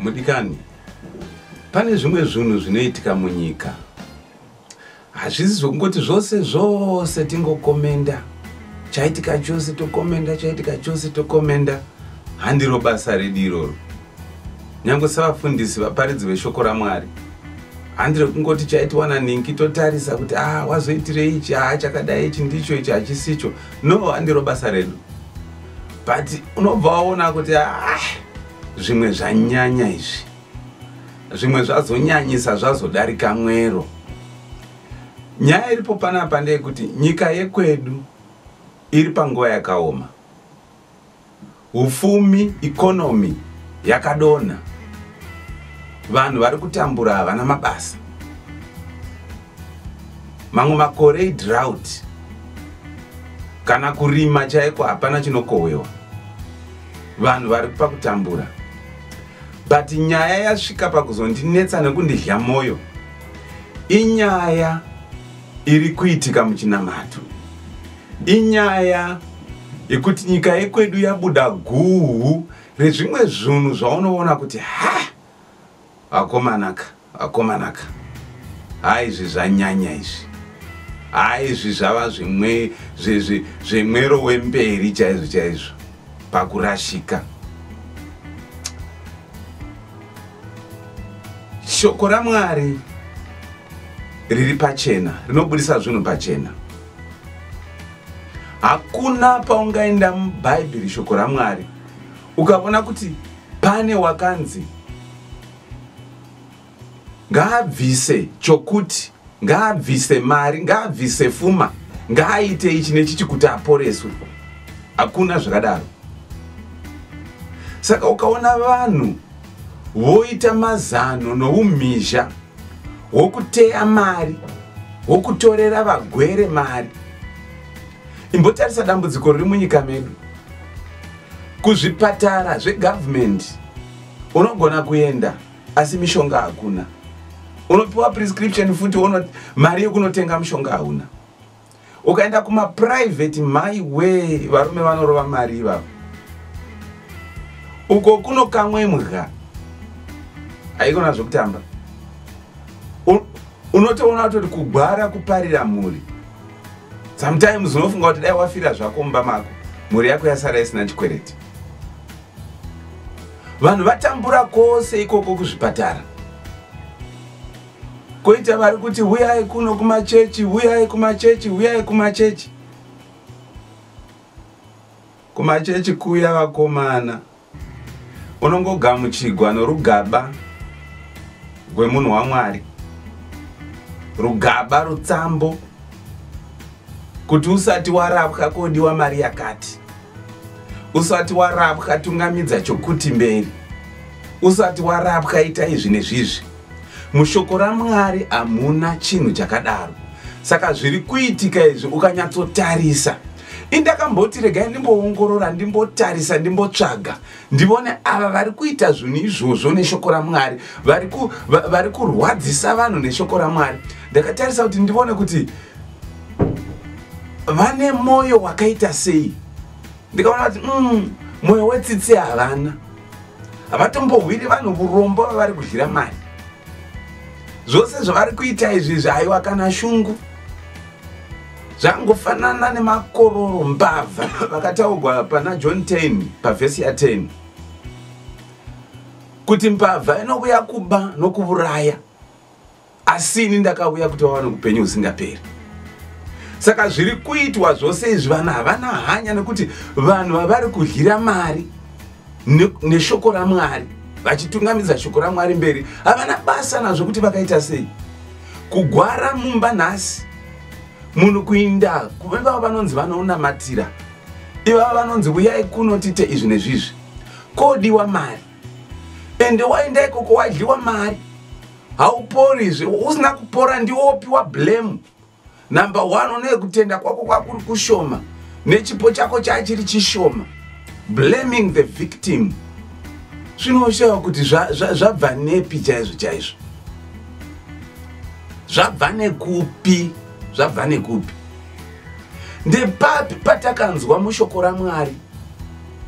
mudikani pane zvimwe zvinhu zvinoitika munyika hazvisi zvokungoti zvose zvose tingokomenda chaitika chose tokomenda chaitika chose tokomenda handiro basa redu iroro nyange sevafundisi vaparidzi veshoko ramwari handire kungoti chaitiwana ninki totarisa kuti a ah, wazoitirei ichi haa ah, chakadai ichi ndicho ichi hachisicho no handiro basa redu but unobva waona kuti a ah, zvimwe zvanyanya izvi zvimwe zvazonyanyisa zvazodarika mwero nyaya iripo panapa ndeyekuti nyika yekwedu iri panguva yakaoma Hufumi, economy yakadonha. Vanhu vari kutambura havana mabasa. Mamwe makore idrought. Kana kurima chaiko hapana chinokohwewa. Vanhu vari pakutambura. But nyaya yasvika pakuzondinetsa nekundidya moyo. Inyaya iri kuitika muchinamato. Inyaya yekuti nyika yekwedu yabuda guhu rezvimwe zvunhu zvaunoona kuti ha akomanaka akomanaka ha izvi zvanyanya izvi ha izvi zvava zvimwe zvemwero wemberi chaizvo chaizvo pakurashika shoko ramwari riri pachena rinobudisa zvinhu pachena hakuna paungaenda mubhaibheri shoko ramwari ukavona kuti pane wakanzi ngaabvise chokuti ngaabvise mari ngaabvise fuma ngaaite ichi nechichi kuti aporeswe hakuna zvakadaro saka ukaona vanhu voita mazano noumhizha hwokuteya mari hwokutorera vagwere mari imbotarisa dambudziko riri munyika medu kuzvipatara zvegavhumendi unogona kuenda asi mishonga hakuna unopiwa prescription futi mari yekunotenga mushonga hauna ukaenda kuma private mai we varume vanorova mari ivavo uko kuno kamwe mudya haikona zvekutamba unotoona kutoti kugwara kuparira mhuri sometimes unofunga kuti dai wafira zvako mumba mako mhuri yako yasara isina chikwereti vanhu vatambura kwose ikoko kuzvipatara koita vari kuti huyai kuno kumachechi huyai kumachechi huyai kumachechi kumachechi kuya vakomana unongogamuchigwa norugaba rwemunhu wamwari rugaba rutsambo kuti usati warapwa kodiwa mari yakati usati warapwa tungamidza chokuti mberi usati warapwa ita izvi nezvizvi Mushoko raMwari hamuna chinhu chakadaro. Saka zviri kuitika izvi ukanyatsotarisa indakamboti regai ndimboongorora ndimbotarisa ndimbotsvaga ndivone ava vari kuita zvinhu izvozvo neshoko ramwari vari kurwadzisa vanhu neshoko ramwari ndakatarisa kuti ndivone kuti vane mwoyo wakaita sei ndikaona kuti mm, mwoyo wetsitsi havana havatombohwiri vanhu vurombo vavari kudyira mari zvose zvavari kuita izvi zvaiwa kana shungu zvangofanana nemakororo mbavha vakataurwa pana john 10 pavhesi ya 10 kuti mbavha inouya kuba nokuvuraya asi ini ndakauya kuti vawane upenyu husingaperi saka zviri kuitwa zvose izvi vanhu havana hanya nekuti vanhu vavari kudyira mari neshoko ramwari vachitungamidza shoko ramwari mberi havana basa nazvo kuti vakaita sei kugwara mumba nhasi munhu kuinda kuvava vanonzi vanonamatira ivava vanonzi uyai kuno tiite izvi nezvizvi kodiwa mari ende waenda ikoko wadyiwa mari haupori izve usina kupora ndiwo wopiwa blame number one unoye kutenda kwako kwakuri kushoma nechipo chako chachiri chishoma blaming the victim zvinosheva kuti zvabva nepi chaizvo chaizvo zvabva nekupi zvabva nekupi ndepapi patakanzwa mushoko ramwari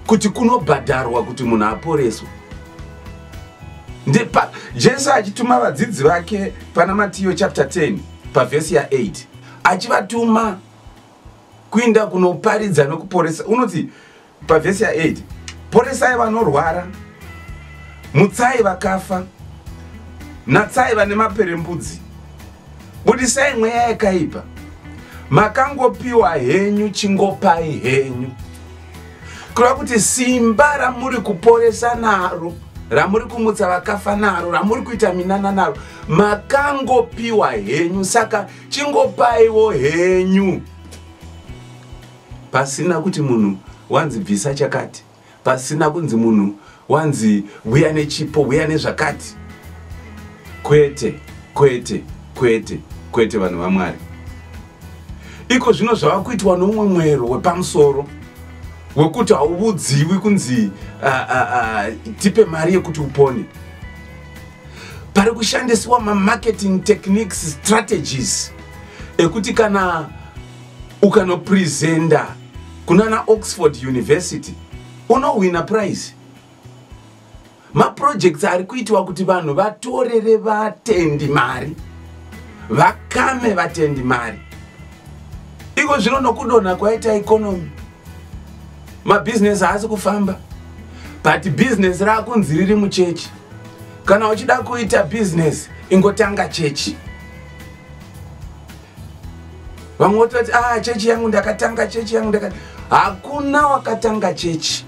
kuti kunobhadharwa kuti munhu aporeswe ndepa jesu achituma vadzidzi vake pana matiyo chapter 10 pavhesi ya8 achivatuma kuinda kunoparidza nokuporesa unoti pavhesi ya8 poresai vanorwara mutsai vakafa natsai vane maperembudzi budisai mweya yakaipa makangopiwa henyu chingopai henyu kureva kuti simba ramuri kuporesa naro ramuri kumutsa vakafa naro ramuri kuita minana naro makangopiwa henyu saka chingopaiwo henyu pasina kuti munhu wanzi bvisa chakati pasina kunzi munhu wanzi huya nechipo huya nezvakati kwete kwete kwete kwete vanhu vamwari iko zvino zvava kuitwa noumwe mwero wepamusoro wekuti hauvudziwi kunzi uh, uh, uh, tipe mari yekuti upone pari kushandisiwa mamarketing techniques strategies ekuti kana ukanopresenta kunana oxford university unohwina prize maprojects ari kuitiwa kuti vanhu vatorere vatendi mari vakame vatendi mari iko zvino nokudonha kwaita ikonomi mabhizinesi haasi kufamba but bhizinesi raakunzi riri muchechi kana uchida kuita bhizinesi ingotanga chechi vamwe vototi ah chechi yangu ndakatanga chechi yangu ndaka hakuna wakatanga chechi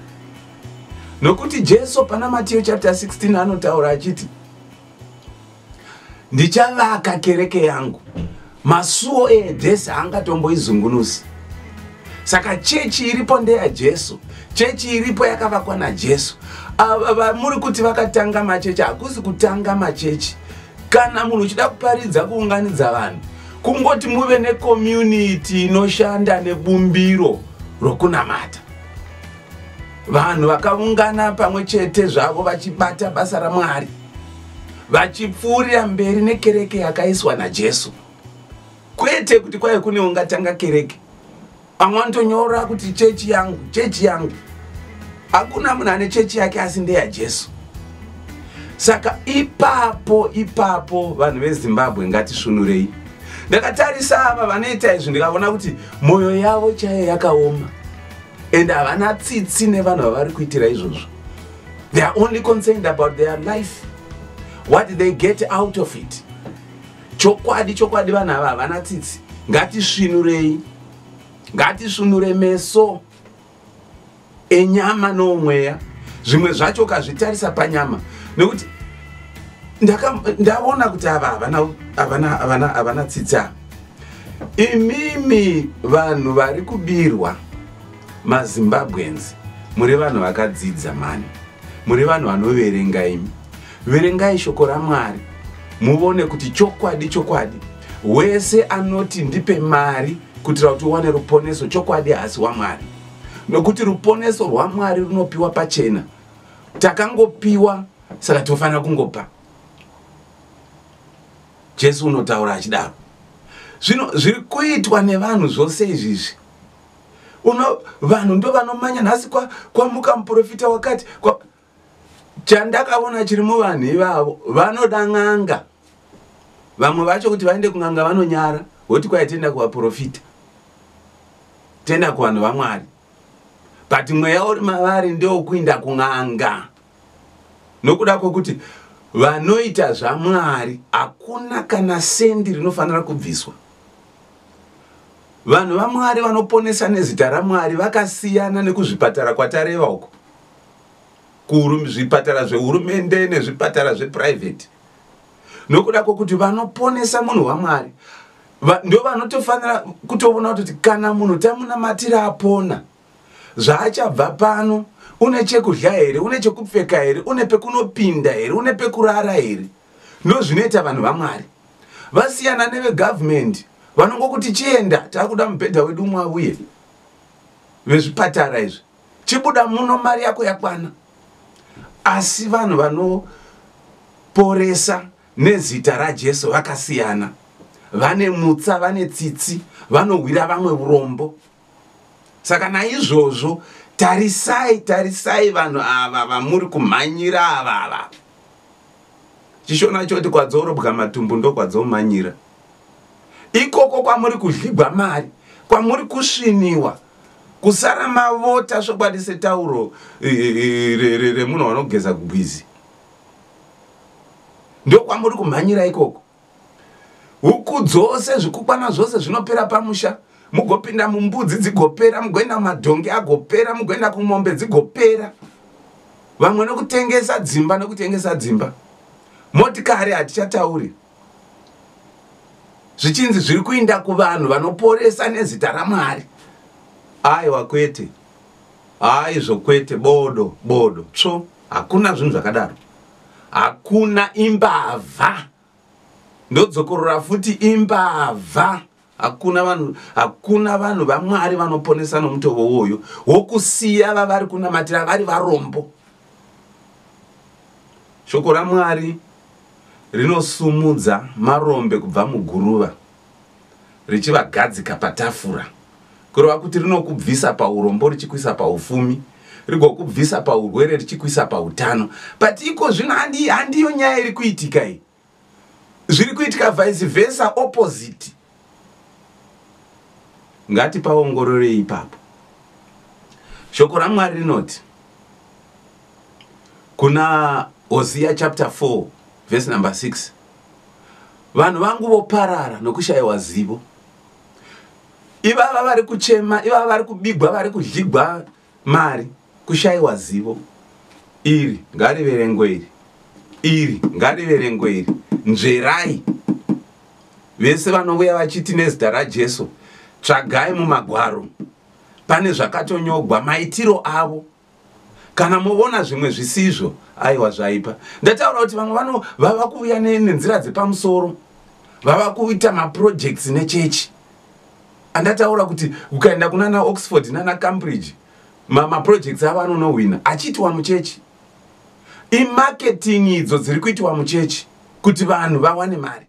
nokuti jesu pana matiyo chapter 16 anotaura achiti ndichavaka kereke yangu masuo eedhesi haangatomboizungunusi saka chechi iripo ndeya jesu chechi iripo yakavakwa najesu muri kuti vakatanga machechi hakusi kutanga machechi kana munhu uchida kuparidza kuunganidza vanhu kungoti muve nekomyuniti inoshanda nebumbiro rokunamata vanhu vakaungana pamwe chete zvavo vachibata basa ramwari vachipfuurira mberi nekereke yakaiswa najesu kwete kuti kwaive kune ungatanga kereke pamwe anotonyora kuti chechi yangu chechi yangu hakuna munhu ane chechi yake asi ndeyajesu saka ipapo ipapo vanhu vezimbabwe ngatisvunurei ndakatarisa ava vanoita izvi ndikavona kuti mwoyo yavo chaiyo yakaoma and havana tsitsi nevanhu vavari kuitira izvozvo they are only concerned about their life what they get out of it Chokwadi chokwadi vana ava havana tsitsi. Ngatisvinurei. Ngatisvinure meso enyama nomweya. Zvimwe zvacho kazvitarisa panyama nekuti ndaona kuti ava havana havana havana havana tsitsi ava. Imimi vanhu vari kubirwa maZimbabweans muri vanhu vakadzidza mani. Muri vanhu vanoverenga imi. Verengai shoko raMwari muvone kuti chokwadi chokwadi wese anoti ndipe mari kuitira kuti uwane ruponeso chokwadi haasi waMwari nokuti ruponeso rwaMwari runopiwa pachena takangopiwa saka tinofanira kungopa Jesu unotaura achidaro zvino zviri kuitwa nevanhu zvose izvizvi uno vanhu ndo vanomanya nhasi kwamuka kwa muprofita wakati kwa, chandakaona chiri muvanhu ivavo vanoda n'anga vamwe vacho kuti vaende kun'anga vanonyara voti kwai tienda kuvaprofita tienda kuvanhu vamwari but mweya uri mavari ndewokuinda kun'anga nokuda kwokuti vanoita zvamwari hakuna kana sendi rinofanira kubviswa vanhu vamwari vanoponesa nezita ramwari vakasiyana nekuzvipatara kwatareva uko zvipatara zvehurumende nezvipatara zveprivate nokuda kwokuti vanoponesa munhu wamwari ndo vanotofanira kutovona kutoti kana munhu tamunamatira apona zvaachabva pano une chekudya here une chekupfeka here une pekunopinda here une pekurara here ndo zvinoita vanhu vamwari vasiyana nevegavhumendi vanongokuti chienda taakuda mubhedha wedu umwe auye vezvipatara izvi chibuda muno mari yako yakwana asi vanhu vanoporesa nezita rajesu vakasiyana vane mutsa vane tsitsi vanohwira vamwe urombo saka naizvozvo tarisai tarisai vanhu ava vamuri kumhanyira ava ava chishona choti kwadzoorobwa matumbu ndokwadzomanyira ikoko kwamuri kudhligwa mari kwamuri kusviniwa kusara mavota svokwadi setauro remunhu wanogeza kugwizi ndokwamuri kumhanyira ikoko huku dzose zvikukwana zvose zvinopera pamusha mugopinda mumbudzi dzigopera mugoenda kumadhongi agopera mugoenda kumombe dzigopera vamwe nokutengesa dzimba nokutengesa dzimba motikari hatichatauri zvichinzi zviri kuinda kuvanhu vanoporesa nezita ramwari aiwa kwete aizvo kwete bodo bodo tsvo hakuna zvinhu zvakadaro hakuna imbavha ndodzokorora futi imbavha hakuna vanhu hakuna vanhu vamwari vanoponesa nomutovo uwoyo wokusiya vavari kunamatira vari varombo shoko ramwari rinosumudza marombe kubva muguruva richivagadzika patafura kureva kuti rinokubvisa paurombo richikuisa paufumi rigokubvisa paurwere richikuisa pautano but iko zvino handiyo nyaya iri kuitika iyi zviri kuitika vice versa opposite ngatipaongororei ipapo shoko ramwari rinoti kuna hosiya chapter 4 verse number 6 vanhu vangu voparara nokushayiwa zivo ivava vari kuchema ivava vari kubigwa vari kudligwa Mari, kushaiwa zivo. Iri, ngariverengwe iri. Iri, ngariverengwe iri. Nzverai. Vese vanouya vachiti nezita raJesu, tsvagai mumagwaro. Pane zvakatonyogwa, maitiro avo. Kana movona zvimwe zvisizvo, aiwa zvaipa. Ndataura kuti vamwe vano vava kuuya nenzira dzepamusoro. Vava kuita maprojects nechechi. andataura kuti ukaenda kunana oxford nana cambridge maprojects avo anonohwina achiitiwa muchechi imarketing idzo dziri kuitiwa muchechi kuti vanhu vawane mari